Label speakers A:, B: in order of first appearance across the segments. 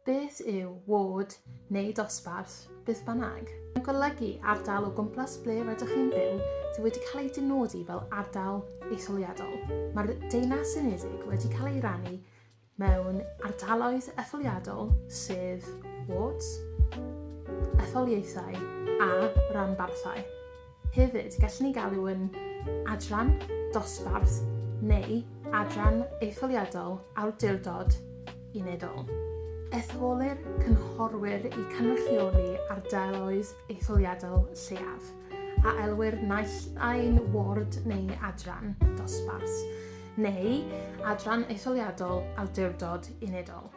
A: Beth yw ward neu dosbarth, beth bynnag? Mae'n golygu ardal o gwmpas ble rydych chi'n byw sydd wedi cael ei dynodi fel ardal etholiadol. Mae'r Deyrnas Unedig wedi cael ei rannu mewn ardaloedd etholiadol sef wards, etholiaethau a rhanbarthau. Hefyd, gallwn ni galw yn adran dosbarth neu adran etholiadol awdurdod unedol. Etholir cynghorwyr i cynrychioli ardaloedd etholiadol lleiaf, a elwir naill ai'n ward neu adran dosbarth, neu adran etholiadol awdurdod unedol.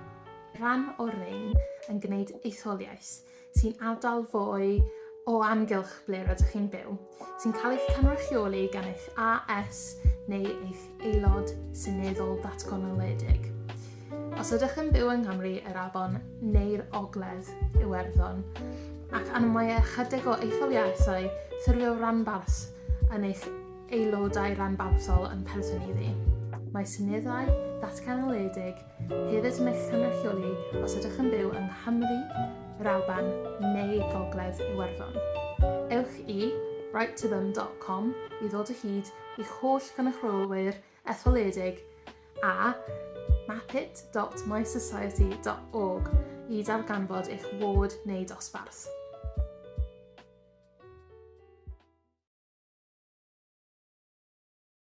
A: Rhan o'r rhein yn gwneud etholiaeth. sy'n adael fwy o amgylch ble rydych chi'n byw, sy'n cael eich cynrychioli gan eich AS neu eich aelod seneddol ddatgonoledig. Os ydych yn byw yng Nghymru, yr Afon neu'r Ogledd Iwerddon, ac am mae ychydig o etholiadau ffurfio ranbarth yn eich aelodau ranbarthol yn perthyn iddi, mae seneddau datganoledig Hyd at Mis Cynrychioli os ydych yn byw yng Nghymru, yr Alban neu Gogledd Iwerddon. Ewch i writetothem.com i ddod o hyd i'ch holl gynrychiolwyr etholedig a mapit.mysociety.org i ddarganfod eich ward neu dosbarth.